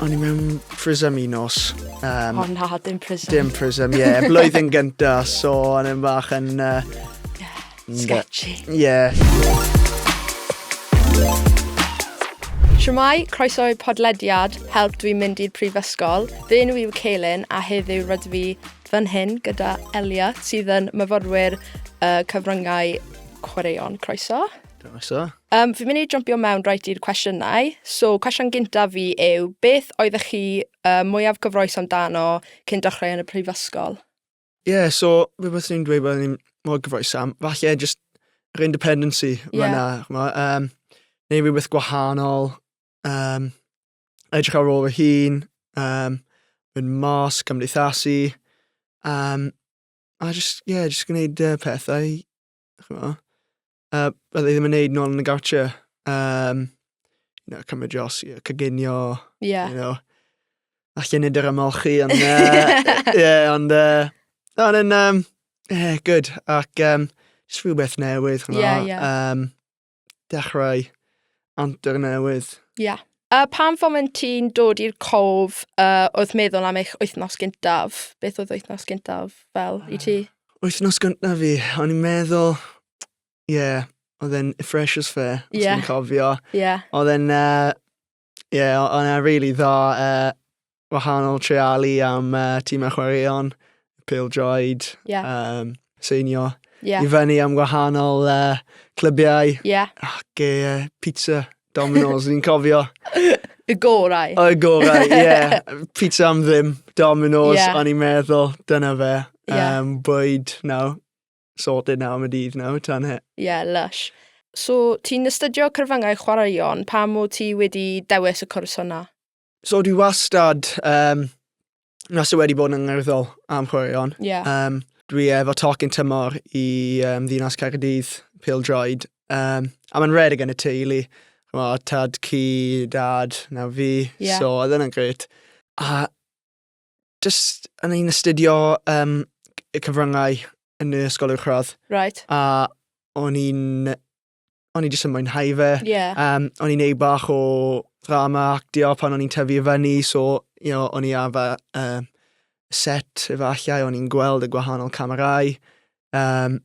O'n i mewn Prism un nos. Um, oh na, dim Prism. Dim Prism, ie. Yeah. Blwyddyn gynta, so o'n i'n bach yn... Uh, yeah, sketchy. Ie. Yeah. Siamai, croeso i podlediad Help Dwi'n Mynd i'r Prifysgol. Fy enw yw Ceilin a heddiw rydw fi fan hyn gyda Elia sydd yn myfyrwyr uh, cyfryngau chwaraeon. Croeso. Croeso. Yym, fi'n mynd i jympio mewn reit i'r cwestiynau. So, cwestiwn gyntaf fi yw, beth oeddech chi uh, mwyaf cyfroes amdano cyn dechrau yn y prifysgol? Ie, yeah, so fe beth ni'n dweud bod ni'n mor gyfroes am, falle just yr independency yeah. fyna, chmo, um, neu rhywbeth gwahanol, um, edrych ar ôl y hun, um, mynd mas, cymdeithasu, um, a just, yeah, just gwneud uh, pethau chymod, uh, bydde ddim yn neud nôl yn y gawtio. Um, you know, cymryd dros, you know, cyginio, yeah. you know, a llunid yr ymolchi, ond, uh, yeah, ond, uh, ond yn, um, yeah, good, ac, um, just rhywbeth newydd, chymod, yeah, yeah. um, dechrau antur newydd. Ie. Yeah. A pan foment ti'n dod i'r cof uh, wrth meddwl am eich wythnos gyntaf, beth oedd wythnos gyntaf fel i ti? Wythnos gyntaf fi, o'n i'n meddwl, ie, yeah, oedd e'n fresh as fair, os yeah. i'n cofio. Yeah. Oedd e'n uh, Ie, yeah, o- o'n e'n rili dda uh, wahanol treialu am uh, tîmau chwaraeon, pêl-droed, Ie. um, seinio. Ie. I fyny am gwahanol uh, clybiau Ie. ac uh, pizza, Domino's, ni'n cofio. Y gorau. O, y gorau, ie. Yeah. Pizza am ddim, Domino's, Ie. o'n i'n meddwl, dyna fe. Ie. Um, bwyd, no, sorted now am y dydd nawr, tan he. Ie, yeah, lush. So, ti'n astudio cyfryngau chwaraeon, pam o ti wedi dewis y cwrs hwnna? So, dwi wastad, um, wastad wedi bod yn ngerddol am chwaraeon. Yeah. Um, dwi efo tocyn tymor i um, ddinas Caerdydd, Pildroed, um, a mae'n redig yn y teulu. Chyma, tad, cu, dad, nawr fi. Yeah. So, oedd yna'n gret. A jyst yn ein astudio um, y cyfryngau yn y ysgol uwch radd. Right. A o'n i'n... O'n i jyst yn mwynhau fe. Yeah. Um, o'n i'n neud bach o drama actio pan o'n i'n tyfu i fyny, so you know, o'n i ar fy um, set efallai, o'n i'n gweld y gwahanol camerau. Um,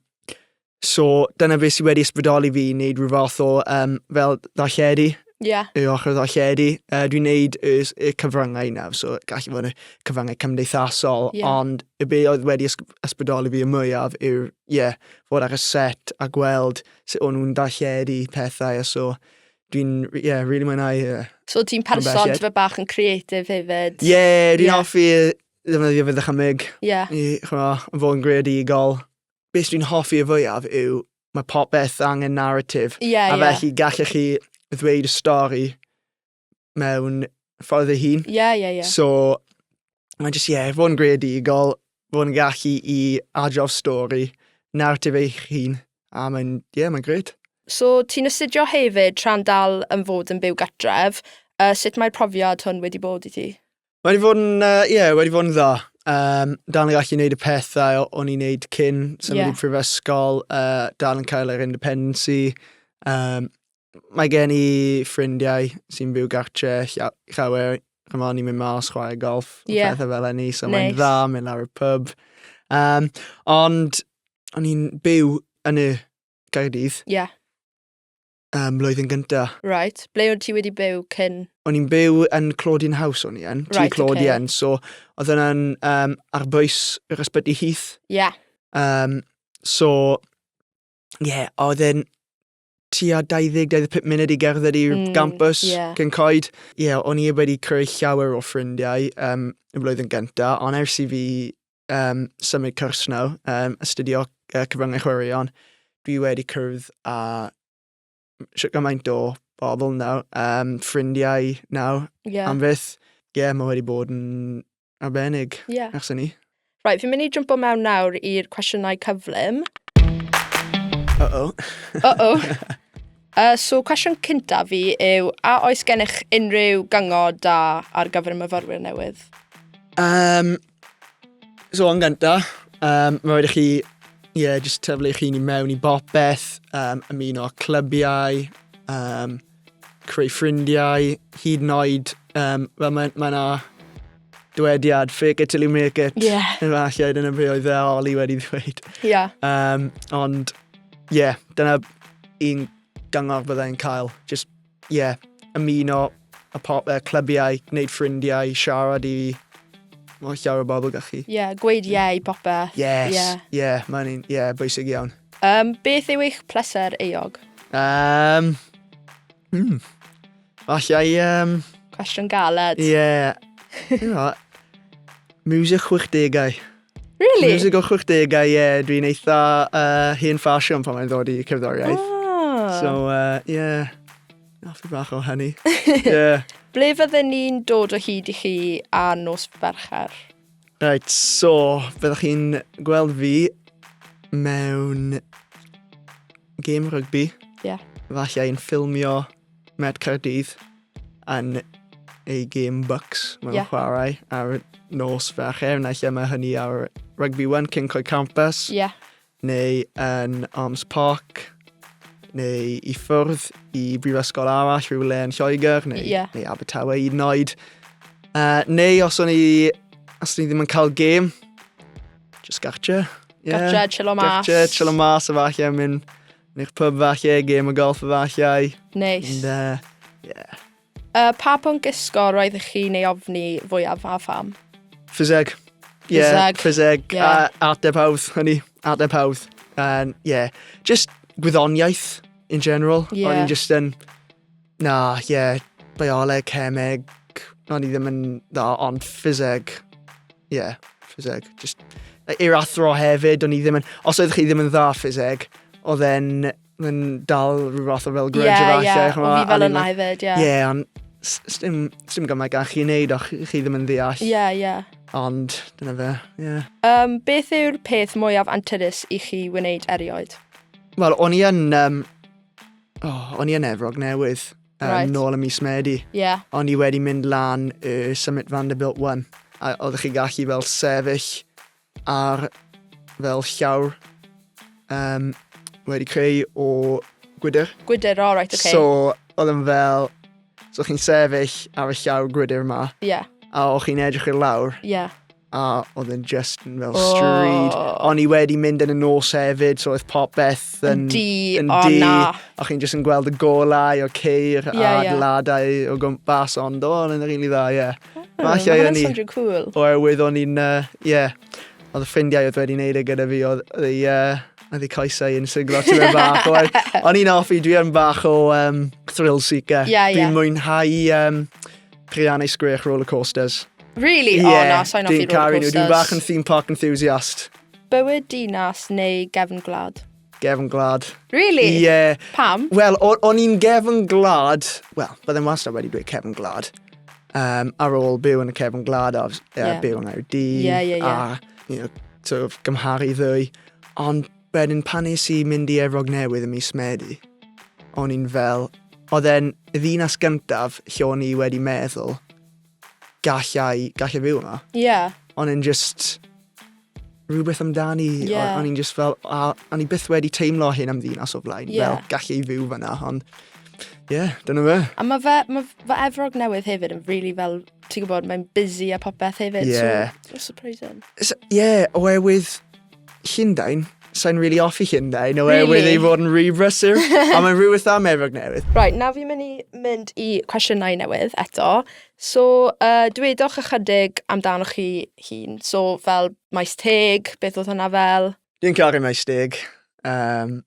So, dyna beth sydd wedi ysbrydoli fi i wneud rhyw fath o um, fel ddarlledu. Ie. Yeah. Y ochr ddarlledu. Uh, dwi'n wneud y, y cyfryngau yna, so gallu fod yn y cyfryngau cymdeithasol, yeah. ond y beth oedd wedi ysbrydoli fi y mwyaf yw'r, ie, yeah, fod ar y set a gweld sut o'n nhw'n darlledu pethau, a so dwi'n, ie, yeah, really mwynhau. Yeah. So ti'n person fe bach yn creatif hefyd? Ie, yeah, dwi'n yeah. offi ddefnyddio fe ddychymyg. Ie. Yeah. I, chwa, fod yn greadigol. beth dwi'n hoffi y fwyaf yw mae popeth angen narratif. Ie, yeah, ie. A felly gallech chi ddweud y stori mewn ffordd ei hun. Ie, yeah, ie, yeah, ie. Yeah. So, mae'n jyst, ie, yeah, fod yn greadigol, fod yn gallu i adrodd stori, narratif eich hun, a mae'n, ie, yeah, mae'n gred. So, ti'n astudio hefyd tra'n dal yn fod yn byw gatref, uh, sut mae'r profiad hwn wedi bod i ti? Mae wedi bod yn, uh, yeah, wedi bod yn dda. Um, dal yn gallu gwneud y pethau o'n i'n gwneud cyn symud yeah. i prifysgol, uh, dal yn cael yr independency. Um, mae gen i ffrindiau sy'n byw gartre llawer, chymod, ni'n mynd mas chwarae golf, yeah. pethau fel enni, so nice. mae'n dda, mynd lawr y pub. Um, ond o'n i'n byw yn y Gaerdydd. Yeah. Ym mlwyddyn gynta. Right, ble oedd ti wedi byw cyn? O'n i'n byw yn Claudine House o'n i yn, right, ti Claudine, okay. so oedd yna'n um, ar bwys yr ysbyty Heath. Ie. Yeah. Um, so, ie, yeah, oedd e'n tua 20-25 munud i gerdded i'r mm, gampus yeah. cyn coed. Ie, yeah, o'n i wedi creu llawer o ffrindiau um, y flwyddyn gyntaf, ond ers i fi um, symud cwrs nawr, um, astudio uh, cyfryngau chwaraeon. Dwi wedi cyrraedd a siwt gymaint o bobl nawr, um, ffrindiau nawr, yeah. am fyth. Ie, yeah, mae wedi bod yn arbennig yeah. ers ni. Right, fi'n mynd i jumpo mewn nawr i'r cwestiynau cyflym. Uh-oh. Uh-oh. Uh, so, cwestiwn cynta fi yw, a oes gennych unrhyw gyngor da ar gyfer y myfyrwyr newydd? Um, So yn gynta, um, mae rhaid i chi ie, yeah, jyst tyflu chi ni mewn i bopeth, um, ymuno â clybiau, um, creu ffrindiau, hyd yn oed, um, fel mae, mae na dywediad, fake it till you make it. Ie. Yeah. Efallai, dyna be oedd e Oli wedi ddweud. Ie. Yeah. Um, ond, ie, yeah, dyna un gyngor byddai'n cael. Just ie, ymuno y po- yy clybiau, gwneud ffrindiau, siarad i Mae'n llawer o bobl gyda chi. Ie, yeah, gweud ie i popeth. Yes, ie, yeah. yeah, mae'n un, ie, yeah, bwysig iawn. Um, beth yw eich pleser eog? Um, mm, allai... Um, Cwestiwn galed. Ie, yeah. you know, music 60au. Really? Music o 60au, ie, yeah, dwi'n eitha uh, hen ffasiwn pan mae'n ddod i cerddoriaeth. Ah. So, uh, yeah, nath i bach o hynny. yeah. Ble fydden ni'n dod o hyd i chi a nos fercher? Right, so, byddwch chi'n gweld fi mewn game rygbi. Ie. Yeah. Falle yn ffilmio Met Cardydd. yn ei gêm Bucks mae'n yeah. chwarae ar y nos fercher, neu lle mae hynny ar Rugby One, Cincoi Campus, yeah. neu yn Arms Park, neu i ffwrdd i brifysgol arall rhywle yn Lloegr, neu, yeah. neu Abertawe i wneud. Uh, neu os o'n i, os o'n i ddim yn cael gêm, just gartre. Yeah. Gartre, chillo mas. Gartre, chillo mas, a falle mynd Neu'ch pub falle, gêm o golff efallai. Neis. Ond uh, yeah. Uh, pa pwnc gysgo roedd i chi'n ei ofni fwyaf a pham? Ffiseg. Ie, Ffiseg. ffiseg. Ie. A ateb hawdd, hynny. Ateb hawdd. And, yeah. Just gwyddoniaeth in general. Ie. O'n i'n just yn Na, ie, bioleg, cemeg, o'n i ddim yn dda, ond ffiseg, ie, yeah, ffiseg. Just, i'r athro hefyd, o'n i ddim yn, os oeddech chi ddim yn dda ffiseg, oedd e'n yn dal rhyw fath o fel grudge yeah, yeah. Ie, ie, o fi fel yna hefyd, ie. Ie, ond sdim, sdim gymaint gan chi wneud o'ch chi ddim yn ddeall. Ie, yeah, ie. Yeah. Ond, dyna fe, ie. Yeah. Um, beth yw'r peth mwyaf anturus i chi wneud erioed? Wel, o'n i yn um, Oh, o'n i yn Efrog Newydd. Um, right. Nôl y mis Medi. Yeah. O'n i wedi mynd lan y Summit Vanderbilt One. A oeddech chi gallu fel sefyll ar fel llawr um, wedi creu o gwydr. Gwydr, all right, okay. So, oedd yn fel... So, chi'n sefyll ar y llawr gwydr yma. Yeah. A o'ch chi'n edrych i'r lawr. Yeah. a oedd yn just yn fel stryd. Oh. O'n i wedi mynd yn y nos hefyd, so oedd popeth yn, yn di. Yn oh, di. Na. A chi'n just yn gweld y golau o ceir yeah, a yeah. ladau o gwmpas, ond o, yn rili dda, ie. Yeah. Oh, Mae hwnna'n swnio cool. Oherwydd o'n i'n, ie, yeah, oedd y ffrindiau oedd wedi wneud e gyda fi, oedd y, uh, oedd y coesau yn siglo ti'n mynd bach. O'n i'n offi, dwi yn bach o um, thrill seeker. Yeah, yeah. Dwi'n mwynhau um, Rhian ei sgwech rollercoasters. Really? Ie, oh, na, sa'n offi rollercoasters. Dwi'n bach yn theme park enthusiast. Bywyd dinas neu gefn glad? Gefn glad. Really? Ie. Yeah. Pam? Wel, o'n i'n gefn glad, wel, byddai'n wastad wedi dweud cefn glad. Um, ar ôl byw yn y cefn glad a uh, yeah. byw yn Aerdydd. Yeah, yeah, yeah. A, you know, sort of, gymharu ddwy. Ond Wedyn pan es i mynd i Efrog Newydd ym mis Medi, o'n i'n fel, oedd e'n y ddinas gyntaf lle o'n i wedi meddwl, gallai, gallai fyw yma. Ie. O'n i'n just, rhywbeth amdani, Ie. o- o'n i'n just fel, a, o'n i byth wedi teimlo hyn am ddinas o flaen, Ie. fel gallai fyw fyna, ond ie, yeah, dyna fe. A mae fe, mae fe Efrog Newydd hefyd yn really fel, ti'n gwybod, mae'n busy a popeth hefyd. Ie. So, so surprising. Ie, yeah, oherwydd Llundain? Sai'n rili offi Llundain oherwydd Really? ei fod yn rhy brysur. a mae'n rhywbeth am Efrog Newydd. Right, nawr fi'n mynd i mynd i cwestiynau newydd eto. So, uh, dwedwch ychydig amdanoch chi hun. So, fel maes teg, beth oedd hwnna fel? Dwi'n caru maes teg. Um,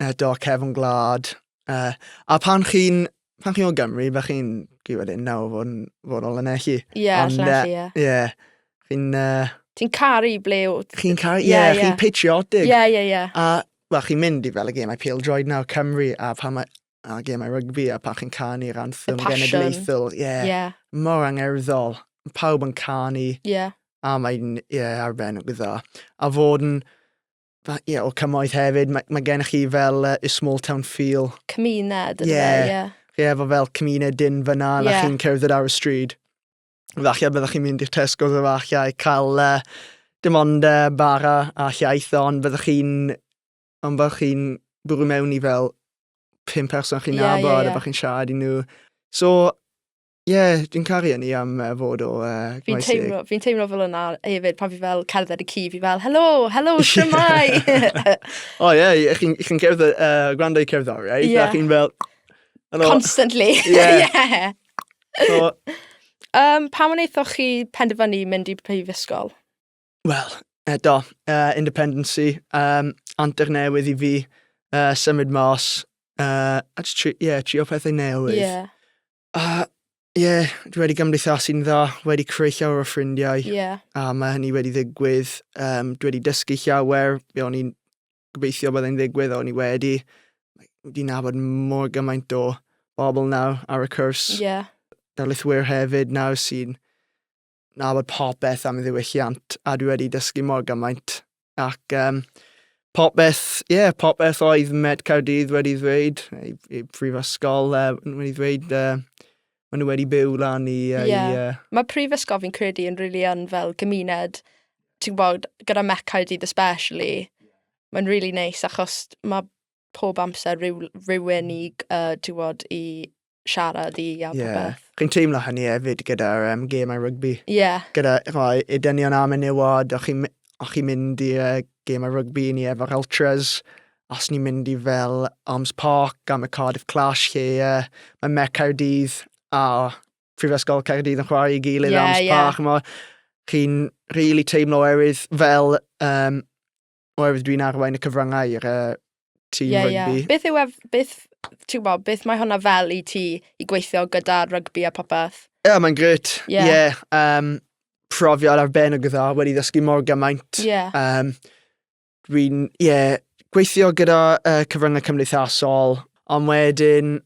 eto cefn gwlad. Uh, a pan chi'n pan chi o Gymru, fe chi'n chi wedyn nawr fod yn fod ol yn elli. Ie, yeah, allan elli, ie. Ie. Chi'n... Uh, Ti'n caru ble wyt. Chi'n caru, ie, yeah, yeah. chi'n patriotic. Ie, ie, ie. A, wel, chi'n mynd i fel y gêm I Peel Droid nawr, Cymru, a pan mae a gêm I rygbi, a pan chi'n canu'r anthem genedlaethol. Ie. Yeah. Yeah. Mor angerddol. Pawb yn canu. Ie. Yeah. A mae'n, ie, yeah, arbennig o dda. A fod yn Mae, ie, yeah, o cymoedd hefyd, mae, mae gennych chi fel uh, small town feel. Cymuned, ie. Yeah. Yeah. Chi efo fel cymuned dyn fyna, yeah. na chi'n cerdded ar y stryd. Falle byddwch chi'n mynd i'r Tesco dda falle i cael uh, dim ond uh, bara a llaeth, ond byddwch chi'n ond byddwch chi'n bwrw mewn i fel pum person chi'n yeah, nabod yeah, yeah. a byddwch chi'n siarad i nhw. So, Ie, yeah, dwi'n caru hynny am uh, fod o uh, Fi'n teimlo, fi teimlo fel yna hefyd pan fi fel cerdded y ci, fi fel, helo, helo, siamai! o ie, yeah, chi'n chi cerdded, uh, gwrando i cerddoriaeth, yeah. a chi'n fel... Hello. Constantly. yeah. yeah. So, um, pa mwyn eithoch chi penderfynu mynd i prifysgol? Wel, eto, uh, independency, um, antur newydd i fi, uh, symud mas, uh, a tri, yeah, trio pethau newydd. Yeah. A ie, yeah, dwi wedi gymdeithasu'n dda, wedi creu llawer o ffrindiau. Ie. Yeah. A mae hynny wedi ddigwydd. Um, dwi wedi dysgu llawer, be o'n i'n gobeithio byddai'n ddigwydd, o'n i wedi. Wedi nabod mor gymaint o bobl nawr ar y cwrs. Ie. Yeah. Darlithwyr hefyd nawr sy'n nabod popeth am y ddiwylliant a dwi wedi dysgu mor gymaint. Ac um, popeth, ie, yeah, popeth oedd Met Cardydd wedi ddweud, ei, ei prifysgol uh, wedi ddweud, uh, maen nhw wedi byw lan i... Uh, yeah. i uh... Mae prifysgol fi'n credu yn rili really yn fel gymuned, ti'n gwybod, gyda Met Cardydd especially, mae'n rili really neis nice, achos mae pob amser rhyw, rhywun i, uh, ti'n gwybod, i siarad i a popeth. Yeah. Chi'n teimlo hynny hefyd gyda'r um, gemau rygbi? Ie. Yeah. Gyda rhoi y dynion am y niwod, o'ch chi'n chi mynd i uh, gemau rygbi ni efo'r Ultras, os ni'n mynd i fel Arms Park am y Cardiff Clash lle uh, mae Met Caerdydd a Prifysgol Caerdydd yn chwarae i gilydd yeah, Arms yeah. Park. Mae chi'n rili really teimlo erydd fel um, oherwydd dwi'n arwain y cyfryngau i'r uh, tîm yeah, rygbi. Yeah. Beth yw ef, beth, ti'n gwybod, beth mae hwnna fel i ti i gweithio gyda rygbi a popeth? Ie, yeah, mae'n gret. Ie. Yeah. Yeah, um, profiad ar ben o gyda, wedi ddysgu mor gymaint. Ie. Yeah. Um, dwi'n, ie, yeah, gweithio gyda uh, cyfryngau cymdeithasol, ond wedyn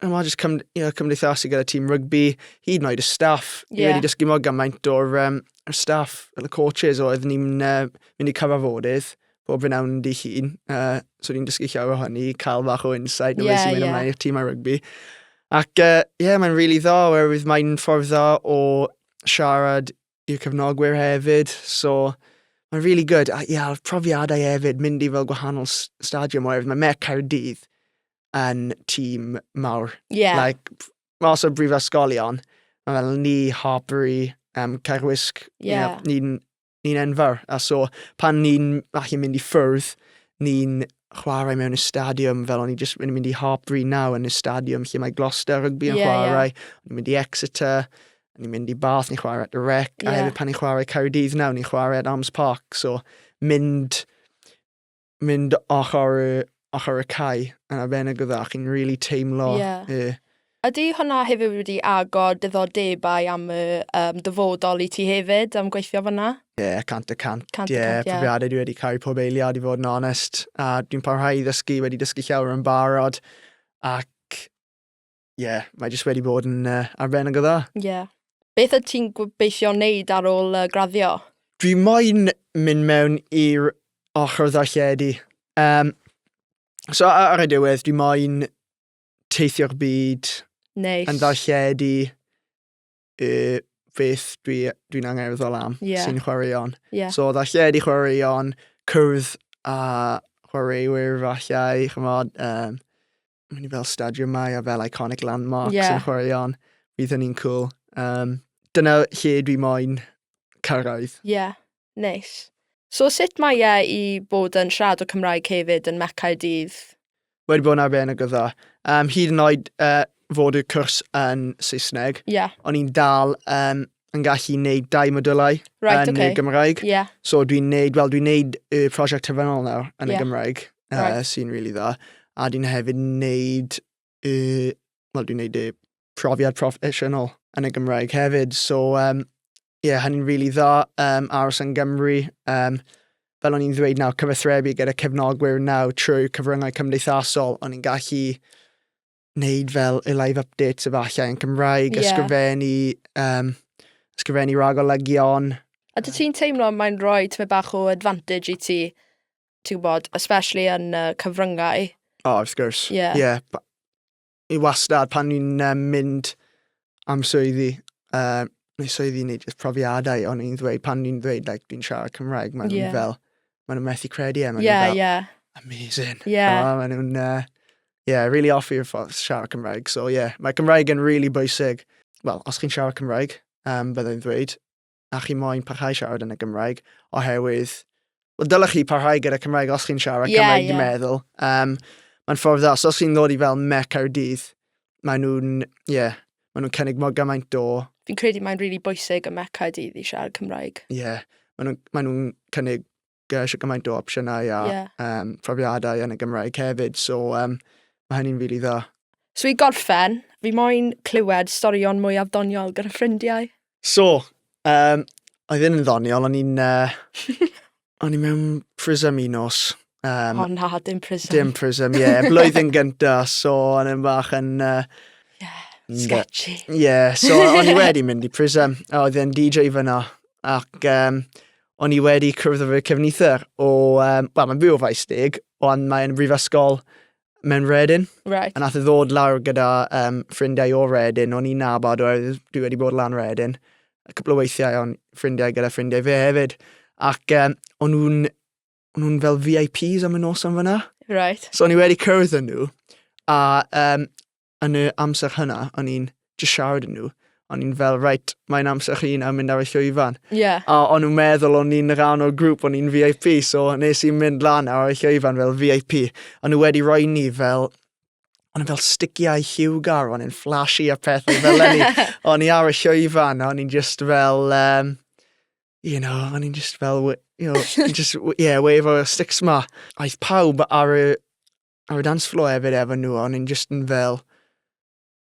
a mae jyst cym, you know, cymdeithasu gyda tîm rygbi, hyd yn oed y staff. Yeah. Ni wedi dysgu mor gymaint o'r um, y staff, y coaches oedd ni'n uh, mynd i cyfarfodydd bob yn awn di hun. Uh, so ni'n dysgu llawer o hynny, cael fach o insight o yeah, beth sy'n mynd yeah. ymlaen i'r tîm ar rygbi. Ac ie, uh, yeah, mae'n rili really dda, oherwydd mae'n ffordd dda o siarad i'r cefnogwyr hefyd, so mae'n really good. A ie, a'r profiadau hefyd, mynd i fel gwahanol stadiwm oherwydd mae Met Caerdydd yn tîm mawr. Yeah. Like, os o brifysgolion, mae fel ni, Harbury, um, Caerwisg, yeah. yeah, ni'n ni enfawr. A so, pan ni'n falle mynd i ffwrdd, ni'n chwarae mewn y stadiwm fel o'n i just yn mynd i Harbury naw yn y stadiwm lle mae Gloucester rygbi yn yeah, chwarae, yeah. o'n i'n mynd i Exeter, ni'n mynd i Bath, ni'n chwarae at y rec, yeah. a hefyd pan ni'n chwarae Caerdydd nawr, ni'n chwarae at Arms Park, so mynd, mynd ochr, ochr y cae yn arbennig o dda, chi'n rili really teimlo yeah. y... Ydy hwnna hefyd wedi agor diddordebau am y um, dyfodol i ti hefyd am gweithio fyna? Ie, yeah, cant y cant. cant Ie, yeah, yeah. profiadau dwi wedi cael pob eiliad i fod yn onest. A dwi'n parhau i ddysgu, wedi dysgu llawer yn barod. Ac Ie, mae jyst wedi bod yn uh, arbennig o dda. Ie. Beth ydych ti'n gobeithio wneud ar ôl uh, graddio? Dwi moyn mynd mewn i'r ochr ddarlledu. Um, so ar y diwedd, dwi moyn teithio'r byd nice. yn ddarlledu y beth dwi'n dwi, dwi angerddol am yeah. sy'n chwaraeon. Yeah. So ddarlledu chwaraeon, cwrdd a chwaraewyr falle, chymod, um, mynd i fel stadio mai a fel iconic landmarks yeah. yn chwaraeon. Bydd hynny'n cool. Um, dyna lle dwi moyn cyrraedd. Ie, yeah, neis. So sut mae e i bod yn siarad o Cymraeg hefyd yn Mecau Dydd? Wedi bod yn arbennig o dda. Um, hyd yn oed uh, fod y cwrs yn Saesneg, yeah. o'n i'n dal um, yn gallu neud dau modylau right, yn okay. y Gymraeg. Yeah. So dwi'n neud, wel dwi'n neud y prosiect tyfynol nawr yn yeah. y Gymraeg. right. uh, sy'n really dda. A dwi'n hefyd wneud, uh, wel dwi'n wneud y profiad proffesiynol yn y Gymraeg hefyd. So, um, yeah, hynny'n rili really dda, um, aros yn Gymru. Um, fel o'n i'n ddweud nawr, cyfathrebu gyda cefnogwyr nawr trwy cyfryngau cymdeithasol, o'n i'n gallu wneud fel y live updates efallai yn Cymraeg, yeah. ysgrifennu, um, ysgrifennu ragolygion. A dwi ti'n teimlo mae'n rhoi tyma bach o advantage i ti, ti'n gwybod, especially yn uh, cyfryngau. Oh, of course. Yeah. yeah. I wastad pan ni'n um, mynd am swyddi, uh, neu swyddi neu just profiadau, ond i'n ddweud, pan ni'n ddweud, like, dwi'n siarad Cymraeg, maen nhw'n yeah. fel, maen nhw'n methu credu e, maen yeah, fel, yeah. amazing. Yeah. Oh, maen nhw'n, uh, yeah, really off i'r ffordd siarad Cymraeg. So, yeah, mae Cymraeg yn really bwysig. Wel, os chi'n siarad Cymraeg, um, byddai'n ddweud, a chi moyn parhau siarad yn y Gymraeg, oherwydd, well, dylech chi parhau gyda Cymraeg os chi'n siarad yeah, Cymraeg, yeah. dwi'n meddwl. Um, Mae'n ffordd dda, os chi'n ddod i fel mec ar y dydd, maen nhw'n, ie, yeah, maen nhw'n cynnig mor gymaint o... Fi'n credu mae'n rili really bwysig y mec ar y dydd i siarad Cymraeg. Ie, yeah, maen nhw'n maen nhw cynnig gyda eisiau gymaint o opsiynau a yeah. um, profiadau yn y Gymraeg hefyd. So, um, mae hynny'n rili really dda. So i gorffen, fi moyn clywed storion mwyaf doniol gyda ffrindiau. So, um, a ddim yn ddoniol, o'n i'n... Uh, o'n i'n mewn prism un nos. Um, oh na, dim prism. Dim prism, ie. Yeah. Blwyddyn gynta, so o'n i'n bach yn... Uh, yeah, sketchy. Ie, yeah, so o'n i wedi mynd i prism. A oedd e'n DJ fyna. Ac um, O'n i wedi cwrdd â fy cefnither o, um, wel, mae'n fwy o faes deg, ond mae'n brifysgol mewn Redin. Right. A nath e ddod lawr gyda um, ffrindiau o Redin, o'n i'n nabod oherwydd dwi wedi bod lan Redin. A cwpl o weithiau o'n ffrindiau gyda ffrindiau fe hefyd. Ac um, o'n nhw'n o'n nhw'n fel VIPs am y nos am fyna. Right. So o'n i wedi cyrraedd yn nhw. A um, yn y amser hynna, o'n i'n just siarad yn nhw. O'n i'n fel, reit, mae'n amser chi nawr mynd ar y llwyfan. Yeah. A o'n nhw'n meddwl o'n i'n rhan o'r grŵp, o'n i'n VIP, so nes i'n mynd lan ar y llwyfan fel VIP. O'n nhw wedi rhoi ni fel o'n fel stigiau lliwgar, o'n i'n flashy a pethau fel ni. o'n i ar y llwyfan, o'n i'n just fel, um, you know, o'n i'n just fel, you know, just, yeah, wave o'r sticks ma. Aeth pawb ar y A fi dan slo hefyd efo nhw, o'n i'n just yn fel...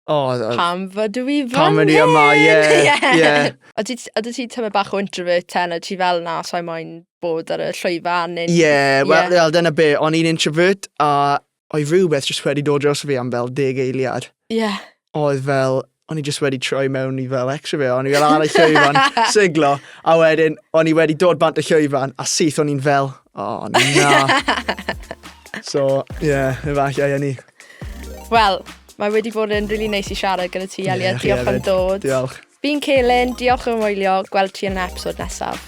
Oh, uh, pam fod dwi fan Pam fod i yma, ie. Yeah, yeah. A ti, a ti tyma bach o introvert ten, a ti fel na, so I moyn bod ar y llwyfan. Ie, yeah, wel, yeah. well, dyna be, o'n i'n introvert, a o'i rhywbeth jyst wedi dod dros fi am fel deg eiliad. Ie. Yeah. oedd fel, o'n i just wedi troi mewn i fel extra fe, o'n i fel ar y llwyfan, siglo, a wedyn o'n i wedi dod bant y llwyfan, a syth o'n i'n fel, o oh, na. so, ie, yeah, efallai yn ni. Wel, mae wedi bod yn rili really neis i siarad gyda ti, Elia. Yeah, diolch am dod. Diolch. Fi'n Celyn, diolch yn wylio, gweld ti yn y episod nesaf.